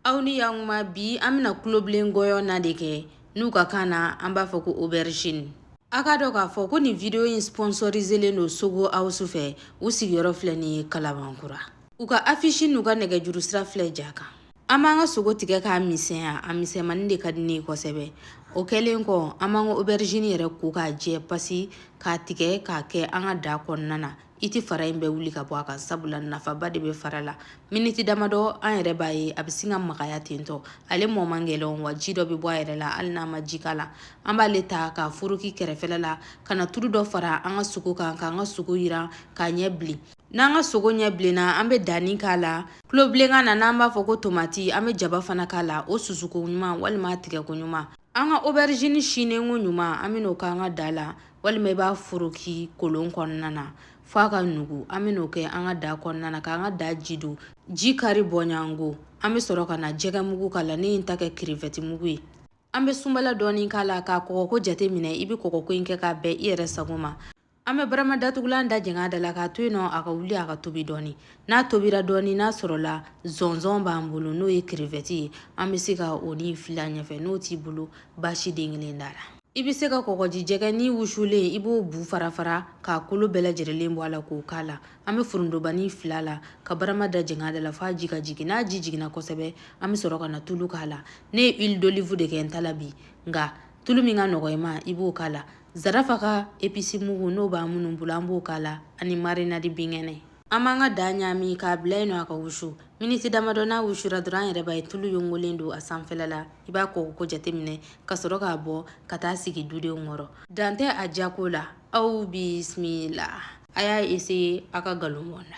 aw ni y'anw bi an bɛna kulobilen gɔyɔ na de kɛ n'u ka kan na an b'a fɔ ko aubergine a k'a dɔn k'a fɔ ko nin video in sponsoriselen don sogo awusu fɛ u sigiyɔrɔ filɛ nin ye kalabankura u ka afisi n'u ka nɛgɛjuru sira filɛ ja kan an b'an ka sogo tigɛ k'a misɛnya a misɛnmani de ka di ne ye kosɛbɛ o kɛlen kɔ an b'an ka aubergine yɛrɛ ko k'a jɛ pasi k'a tigɛ k'a kɛ an ka da kɔnɔna na i tɛ fara in bɛɛ wuli ka bɔ a kan sabula nafaba de bɛ fara la miniti damadɔ an yɛrɛ b'a ye a bɛ sin ka magaya tentɔ ale mɔ man gɛlɛn wa ji dɔ bɛ bɔ a yɛrɛ la hali n'a ma ji k'a la an b'ale ta k'a foroki kɛrɛfɛla la ka na tulu dɔ fara an ka sogo kan k'an ka sogo yiran k'a ɲɛ bilen n'an ka sogo ɲɛ bilenna an bɛ danni k'a la kulobilenkan na n'an b'a fɔ ko tomati an bɛ jaba fana k'a la o susuko ɲuman walima tigɛko ɲuman an ka aubergine sinenko ɲuman an bɛn'o k'an ka da la walima i b'a foroki kolon kɔnɔna na f'a ka nugu an bɛ n'o kɛ an ka da kɔnɔna na k'an ka da ji don ji kari bɔɲango an bɛ sɔrɔ ka na jɛgɛ mugu k'a la ne ye n ta kɛ crevette mugu ye an bɛ sunbala dɔɔni k'a la k'a kɔgɔko jate minɛ i bɛ kɔgɔko in kɛ k'a bɛn i yɛrɛ sago ma an bɛ barama datugulan da jɛngɛ a da la k'a to yen nɔ a ka wuli a ka tobi dɔɔni n'a tobira dɔɔni n'a sɔrɔla zɔnzɔn b'an bolo n'o ye crevette ye an bɛ se ka o ni fil'a ɲɛfɛ n'o t'i bolo baasi den kelen t'a la i bɛ se ka kɔgɔji jɛgɛnin wusulen i b'o bu fara fara k'a kolo bɛɛ lajɛlen bɔ a la k'o k'a la an bɛ forontobani fil'a la ka barama da jɛngɛ a da la f'a ji ka jigin n'a ji jiginna kosɛbɛ an bɛ sɔrɔ ka na tulu k'a la ne ye huile d'olive de kɛ n ta la bi nka tulu min ka nɔgɔ i ma i b'o k'a la zarafa ka épice mugu n'o b'a minnu bolo an b'o k'a la ani marinade binkɛnɛ An b'an ka da ɲami k'a bila yen nɔ a ka wusu miniti damadɔ n'a wusura dɔrɔn an yɛrɛ b'a ye tulu yongolen don a sanfɛla la i b'a kɔgɔko jate minɛ ka sɔrɔ k'a bɔ ka taa sigi dudenw kɔrɔ dan tɛ a jako la aw bisimila a y'a essayer a ka nkalon bɔ n na